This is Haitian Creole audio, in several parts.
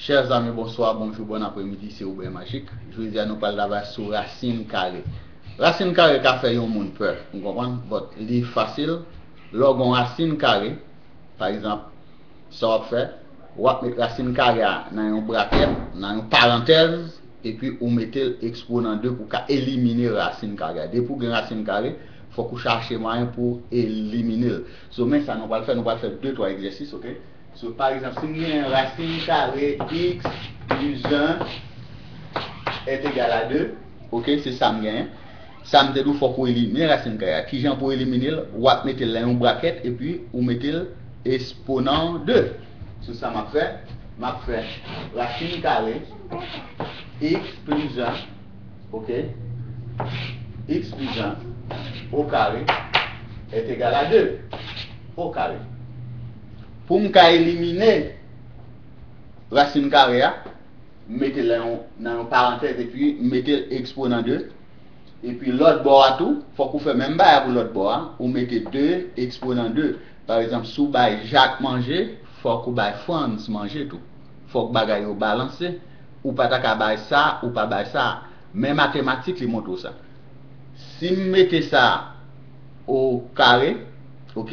Chers amis bonsoir, bonjour, bon apremidi se Oubren Majik. Jodi a nou pral travay sou rasin kare. Rasin kare ka fè yon moun pè, ou konprann, but li fasil. Lè w gen yon rasin kare, pa egzanp, sa w ap fè, w ap met rasin kare a nan yon brakèt, nan yon parantèz, epi ou mete l eksponan 2 pou w ka elimine rasin kare a. Depi w gen rasin kare, fòk ou chache mwayen pou w elimine l. So men sa nou pral fè, nou pral fè 2, 3 egzèsis, ok. So, pa egzanp, si m genyen rasin kare x plis 1 est égal à 2. Ok, se sa m genyen. Sa m te di w fòk ou elimine rasin kare a. Ki jan pou w elimine l? W ap mete l nan yon brakèt epi ou mete l esponan 2. So, sa m ap fè? M ap fè rasin kare x plis 1, ok, x plis 1 okare est égal à 2, okare. Pou m ka elimine rasin kare a, m mete l nan yon parantèz epi m mete l eksponan 2. Epi lòt bò a tou, fòk ou fè menm bagay la pou lòt bò a, ou mete 2 eksponan 2. Pa egzanp, si w bay Jak manje, fòk ou bay Frans manje tou. Fòk bagay yo balanse. Ou pa ta ka bay sa, ou pa bay sa. Men matematik li montre w sa. Si m mete sa o kare, ok.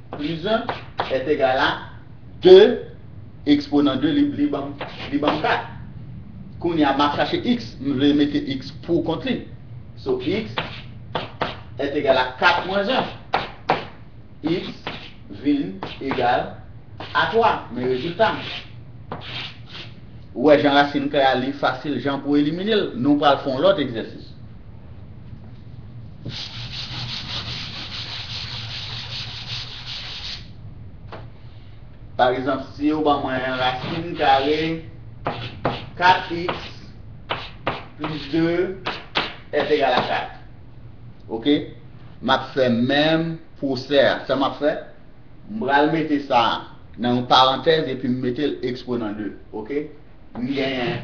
Prizan est egal a 2 eksponan 2 li banm li banm 4 kounye a map chache x m vle mete x pou kont li so x est egal a 4 mwens 1 x vin egal a 3 men rezilta m ou wè jan rasin kare a li fasil jan pou elimine l nou pral fon lòt egzèsis. Pa egzanp, si yo ban mwen rasin kare 4 iks plis 2 èt egal a 4. Ok. M ap fè menm pwosè a. Sa m ap fè? M pral mete sa a nan yon parantèz epi m mete l eksponan 2. Ok. M genyen.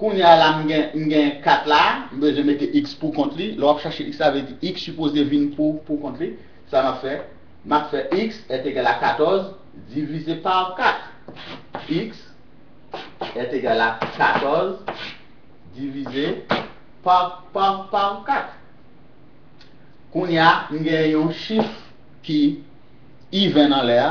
Kounya la m gen m gen 4 la, m bezwen mete x pou kont li. Lè w ap chache x la vle di x sipoze vin pou pou kont li. Sa m ap fè? M ap fè x est égal à 14 divize pa 4. X est égal à 14 divize pa pa pa 4. Kounya m gen yon chif ki even anlè a.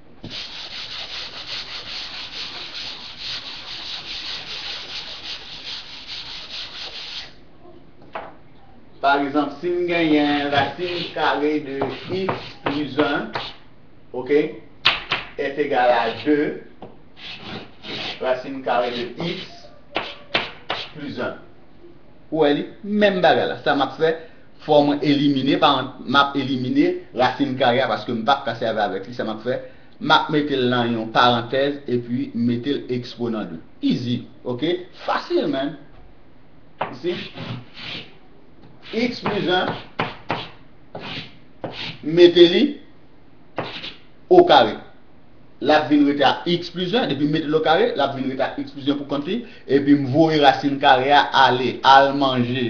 Pa egzanp, si m genyen rasin kare de x plis 1, ok, est egal a 2 rasin kare de x plis 1. Ou wè li? Menm bagay la. Sa m ap fè. Fò mwen elimine paran map elimine rasin kare a paske m pap ka sèvi avèk li sa map fè map metel nan yon parantèz epi m metel exponent de easy ok fasil man you see x plus 1 m mete li o kare lap vin rete a x plus 1 depi m metel o kare lap vin rete a x plus 1 pou kont li epi m voye rasin kare a ale al manje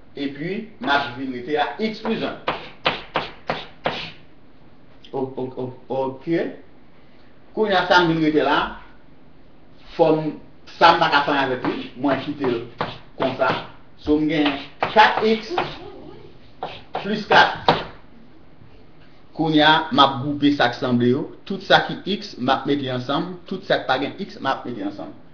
epi maj vin rete a x plis 1. Ok. Kounye a sa m vin rete la, fòm sa m pa ka fè anyen avèk li, mwen kite l konsa. So m gen 4x plis 4. Kounye a m ap gwoupe sa k sanble yo, tout sa ki x m ap mete ansanm, tout sa k pa gen x m ap mete ansanm.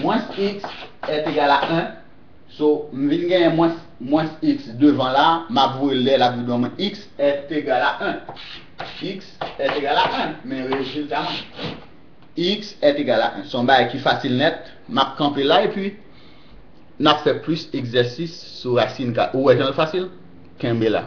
Mwens x est egal a 1, so m vin genyen mwens mwens x devan la, m ap voye l dèyè l ap vin yon mwen x est egal a 1. X est egal a 1, men rezilta mwen. X est egal a 1. Se yon bagay ki fasil nèt, m ap kanpe la epi n ap fè plis egzèsis sou rasin ka. Ou wè jan l fasil? Kenbe la.